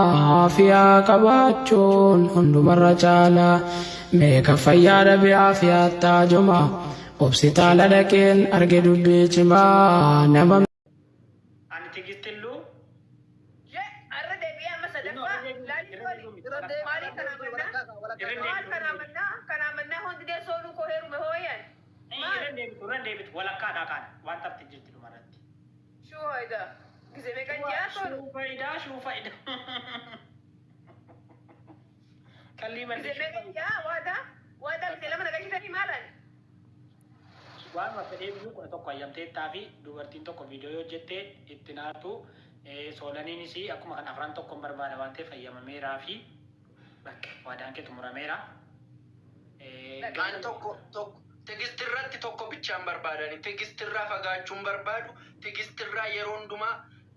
Aafiyaa qabaachuun hundumarra caala mee kan fayyaa dhabe aafiyaatti haajoma obsitaala dhaqeen arge dubbii cimaa nama Ani tigistilluu irra deebitu irra deebitu walakkaadhaa kaan waan tafti jirti dhumarratti. Shuu hoida. Gize meqa ji'a toru. Shuu fayidaa shuu fayidaa. Qallii Gize malli meqa ji'a waada. Waada gize lama nagashitani maalan. Waanuma fedhee biyyuu kudha tokko hayyamteettaa fi dubartiin tokko viidiyoo yoo hojjette itti naattu soolaniinis akkuma kan afran tokkon barbaada waan ta'eef hayyamameeraa fi Bakka. Waadaan kee xumurameera. An tokko tokko Tigist irratti tokko bichaan barbaada ani Tigist irraa fagaachuu hin barbaadu Tigist irraa yeroo hundumaa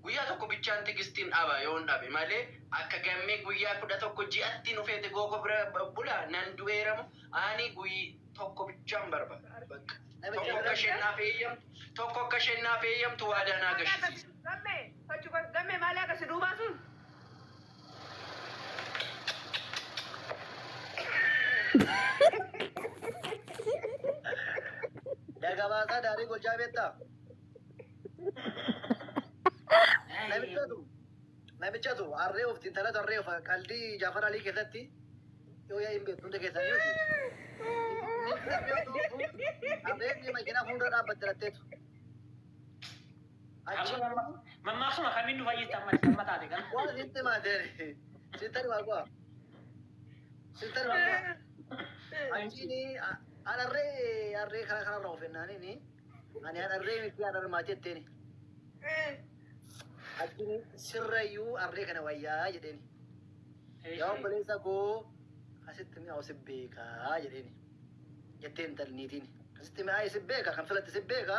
guyyaa tokko bichaan Tigistin dhaba yoon dhabe malee akka Gammee guyyaa 11 ji'atti nu feete goo koo bira bula nan du'eera moo ani guyy tokko bichaan barbaada bakka tokko akka isheen naaf eeyyamtu tokko akka isheen naaf eeyyamtu waadaa naa gashisiisa. Gammee! Fachu koo! Gammee maali akka si duubaa sun? Dagabaasaa daarii gochaa beektaa? Namichatu namichatu harree of intala tarree of qaldii Jaafar Alii keessatti yoo yaa'iin beektu hunda keessanii miti. Harreen makiinaa fuuldura dhaabbatte latteetu. Achi Amma- mamma. Mammaaksuma kamiin nu fayyista amma ati amma taate kana? Waan sitti himaa deere. Sittari waa goa. Sittari waa goa. Achiini a- adharree adharree karaa kanarra of hennaaniini. Ani adharree miti adharree maa jetteeni. Achiini sirrayyuu adharree kana wayyaa jedheeni. Yaa obboleessa koo asitti mi'aawu si beekaa jedheeni. Jetteen intalli niitiin. Asitti mi'aawu si beeka kan filatte si beeka.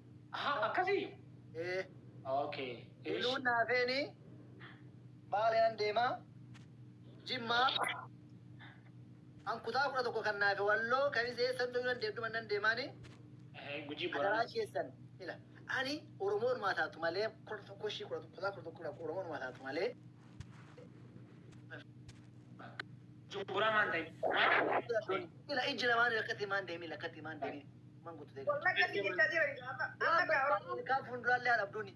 Aha akkasii? Ee. Okay. Iluun naafeeni baalean deemaa jimmaa an kutaa kudha tokko kan naafe walloo kan isa eessan dhuyuu nan deemtu man nan deemaani Gujii adaraa boranaa. keessan ila ani oromoon maa taatu malee kudha tokko ishii kudha tokko kutaa kudha tokko kudha oromoon maa taatu malee Jumburaa maan ta'e. ila ijji lamaan akkatti maan deemii akkatti maan deemii Umman guutu deegarti. Wallahi akkasii jechaa jiran egaa amma amma Waan egaa Oromoo barbaadne kaa fuulduraallee haa dhabduuni.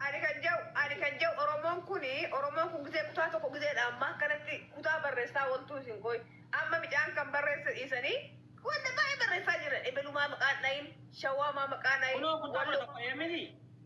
ani kan jau ani kan jau oromoon kun oromoon kun gisee kutaa tokko giseedha amma akkanatti kutaa barreessaa waltuu isin qoy amma micaan kan barreesse dhiisanii wanta baay'ee barreessaa jiran ebelumaa maqaan dhayin shawaamaa maqaan dhayin Kunoo kutaa kudha walloo tokko eemini.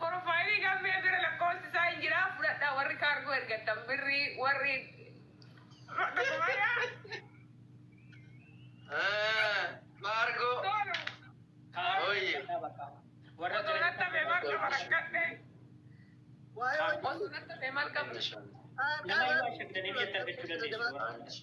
Porofaayilii gammee bira lakkoofsi isaa hin jiraa fudhadhaa warri kaargoo ergattan birrii warri. Kaargoo. Warra Nama yoo ashagdaniif jettan jechuu dandeessu.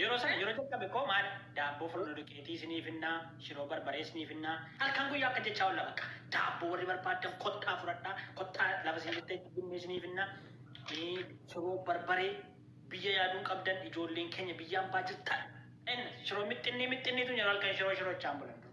Yeroo sana yeroo jalqabe koo maali daabboo furno duqeetii isinii finnaa shiroo barbaree isinii finnaa halkan guyyaa akka jechaa olla bakka daabboo warri barbaaddan kottaa fudhadhaa kottaa lafa isin jirtanitti binnee isinii finnaa shiroo barbaree biyya yaaduun qabdan ijoolleen keenya biyyaan baajirtan en shiroo mixxinnii mixxinniitu nyaru halkan shiroo shirochaan bulan dur.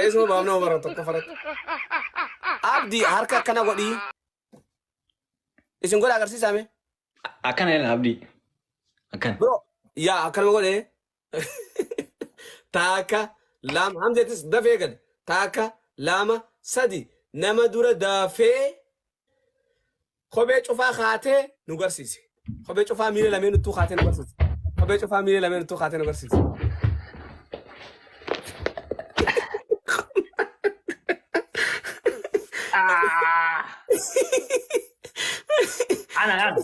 Eesuma baafna hoo bara tokko faratti. Abdi harka akkana godhi. Isin godha agarsiisaa mee. Akkana jedhan abdii. Akkana. Bro yaa akkanuma godhe. Taaka lama hamzeetis dafee gad. Taaka lama sadi nama dura dafee kophee cufaa kaatee nu garsiise. Kophee cufaa miila lameen uttuu kaatee nu garsiise. Kophee cufaa miila lameen uttuu kaatee nu garsiise. Ah. Ana ana.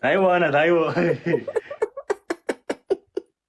Taiwo ana taiwo.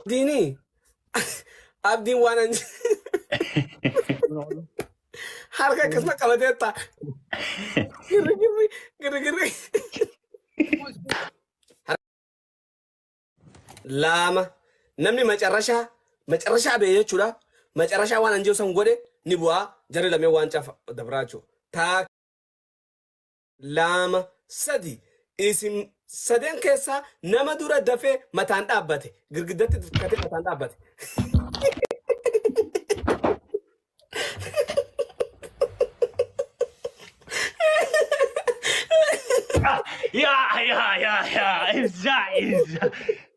Abdiinii abdiin waan an harka akkasuma qabatee taa girrigirri girrigirri laama namni macarrashaa macarrashaa bee jechuudha macarrashaa waan an jiru san godhe ni bu'aa jarri lamee waan cafa dabraa jechuudha taa 2, 3, Isin saden keessaa nama dura dafee mataan dhaabbate, girgiddatti dukkatee mataan dhaabbate. Yaa yaa yaa yaa ibsaa ibsaa.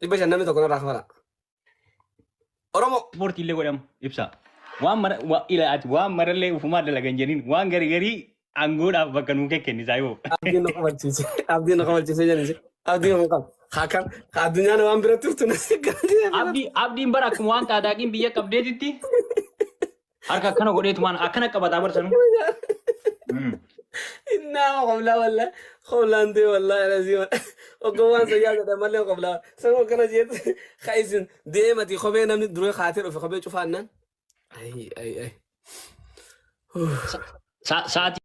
Dhibba shan namni tokko narraa kafala. Oromoo. Ispoortii illee godhamu ibsa. Waan mara wa- ila ati waan marallee ufumaa dalagan jedhin waan gari garii aangoodhaaf bakka nuu kekkennisaa yoo. Abdiin na kofalchiise. Abdiin na kofalchiise jedhani. Abdiin kun qaba. Hakan addunyaan waan bira turtu na sikkaatii. Abdi abdiin bara akkuma waan qaadaaqiin biyya qabdeetitti Harka akkana godheetumaan akkana qabataa barsan. Innaa qoblaa wallaa qoblaan ta'e wallaa irasiima oggoowwan sayyaa jedhan malee qoblaa san akkana jeetu ka isin deemati kophee namni duree kaatee dhufe kophee cufaannaan. Ayi ayi ayi. Sa'aatii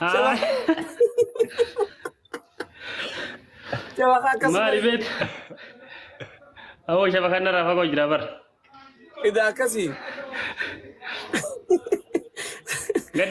Haa. Jabaa akkas Maali beet? Awoo shaba kanarraa fagoo jira bar. Idaa akkasii. Gad